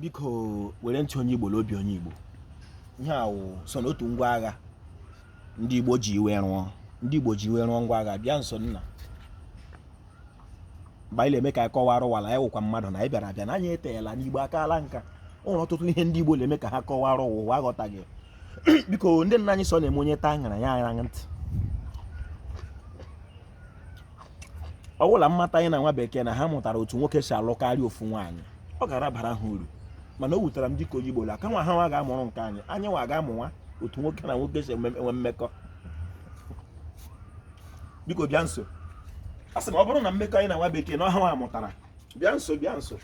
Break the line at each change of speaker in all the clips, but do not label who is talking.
biko were ntị onye Igbo n'obi onye Igbo ihe a wụ so n'otu ngwa agha ndị Igbo ji iwe rụọ ngwa agha bịa nso nna mgbe anyị na-eme ka anyị kọwara ụwa la anyị wụkwa mmadụ na anyị bịara abịa na anyị eteela n'Igbo akaala nka o nwere ọtụtụ ihe ndị Igbo na-eme ka ha kọwara ụwa ụwa aghọtaghị biko ndị nna anyị so na-eme onye taa ṅara ya ara ntị ọ wụ la mmata anyị na nwa bekee na ha mụtara otu nwoke si alụ karịa ofu nwaanyị ọ gara bara ha uru mana o wutere m dịka onye Igbo la kama ha nwa ga-amụrụ nke anyị anyị nwa gaa mụwa otu nwoke na nwoke si enwe mmekọ biko bịa nso a sị m ọ bụrụ na mmekọ anyị na nwa bekee na ọ ha nwa mụtara bịa nso bịa nso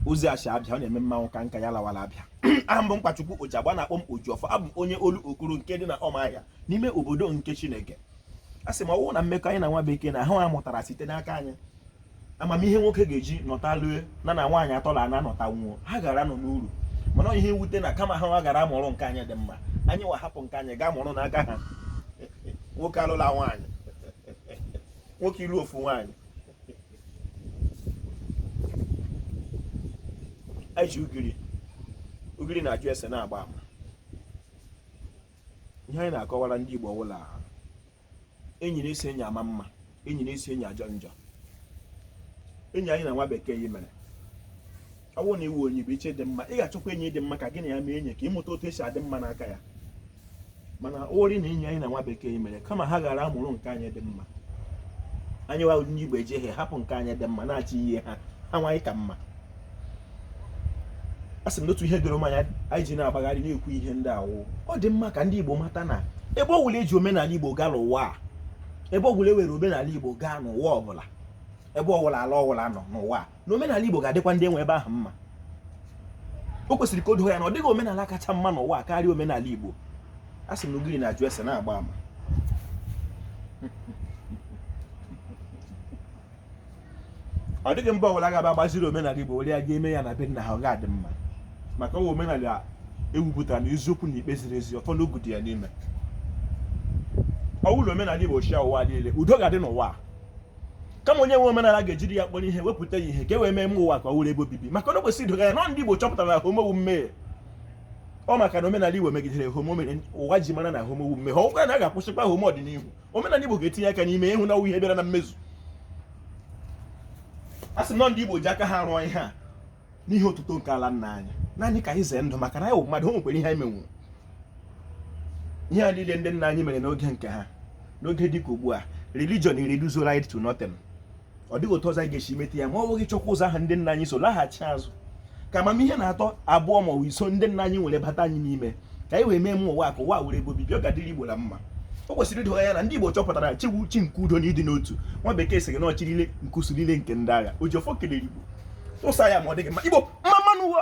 ozi ashi abịa ọ na-eme mmanwụ ka nka ya lawara abịa aha m bụ mkpachukwu ojagba na-akpọ m ojiọfọ abụ m onye olokoro nke dị na ọmahịa n'ime obodo nke chineke a sị m ọ wụ na mmekọ anyị na nwa bekee na ha mụtara site n'aka anyị amamihe nwoke ga-eji nọta lue na nwaanyị atọ na anọ nọta nwụọ ha gara nọ n'uru mana ihe mwute na kama ha nwa gara amụrụ nke anyị dị mma anyị wa hapụ nke anyị gaa mụrụ n'aka ha nwoke alụla nwaanyị nwoke ịlụ ofu nwaanyị anyị ji ugiri ugiri na-ajụ ese na-agba ama ihe anyị na-akọwara ndị Igbo wụ la enyi na-esi enyi ama mma enyi na-esi enyi ajọ njọ enyi anyị na nwa bekee yi mere ọ bụrụ na ị wụ onye bụ iche dị mma ị ga-achọkwa enyi dị mma ka gị na ya mee enyi ka ị mụta otu esi adị mma n'aka ya mana ori na enyi anyị na nwa bekee mere kama ha gara amụrụ nke anyị dị mma anyị wa ndị igbo ejeghe hapụ nke anyị dị mma na-achị ihe ha ha nwaanyị ka mma a sị m na otu ihe doro m anya anyị ji na-agbagharị na-ekwu ihe ndị a wụ ọ dị mma ka ndị igbo mata na ebe ọ wụla e ji omenala igbo gaa n'ụwa a ebe ọ wụla e were omenala igbo gaa n'ụwa ọ bụla ebe ọ wụla ala ọ wụla nọ n'ụwa a na omenala Igbo ga-adịkwa ndị nwe ebe ahụ mma o kwesịrị ka o doo anya na ọ dịghị omenala kacha mma n'ụwa karịa omenala Igbo a sị m na ugiri na-ajụ ese na-agba ama ọ dịghị mba ọbụla ga-abịa gbaziri omenala Igbo were ya gaa mee ya na be nna ha ọ ga-adị mma maka ọ wụ omenala e wupụtara na eziokwu na ikpe ziri ezi ọfọ na ogu dị ya n'ime ọ bụrụ omenala Igbo chịa ụwa niile udo ga-adị n'ụwa kama onye nwe omenala ga-ejiri ya kpọrọ ihe wepụta ya ihe ka e wee mee mma ụwa ka ọ wụrụ ebe obibi maka na o kwesịrị ido anya na ndị Igbo chọpụtara na homo wụ mmehie ọ maka na omenala Igbo megidere homo mere ụwa ji mara na homo wụ mmehie ọ wụrụ na a ga-akwụsịkwa homo ọdịnihu omenala Igbo ga-etinye aka n'ime ịhụ na ihe bịara na mmezu a sị na ndị Igbo ji aka ha rụọ ihe a n'ihe otuto nke ala nna anyị naanị ka anyị zee ndụ maka na anyị wụ mmadụ o nwekwara ihe anyị menwuru ihe a niile ndị nna anyị mere n'oge nke ha n'oge dị ka ugbu a religion reduce anyị to nothing ọ dịghị otu ọzọ anyị ga-esi mete ya ma ọ wụghị chọkwa ụzọ ahụ ndị nna anyị so laghachi azụ ka amamihe na atọ abụọ ma ọ wụ iso ndị nna anyị nwere bata anyị n'ime ka anyị wee mee mma ụwa ka ụwa wụrụ ebe obibi ọ ga-adịrị Igbo na mma o kwesịrị ido ọha anya na ndị Igbo chọpụtara chi wụ chi nke udo na ịdị n'otu nwa bekee sịrị na ọ chi niile nke usuu niile nke ndị agha Ojiọfọ kelere Igbo tụsa ya ma ọ dị gị mma Igbo mma mma nụ o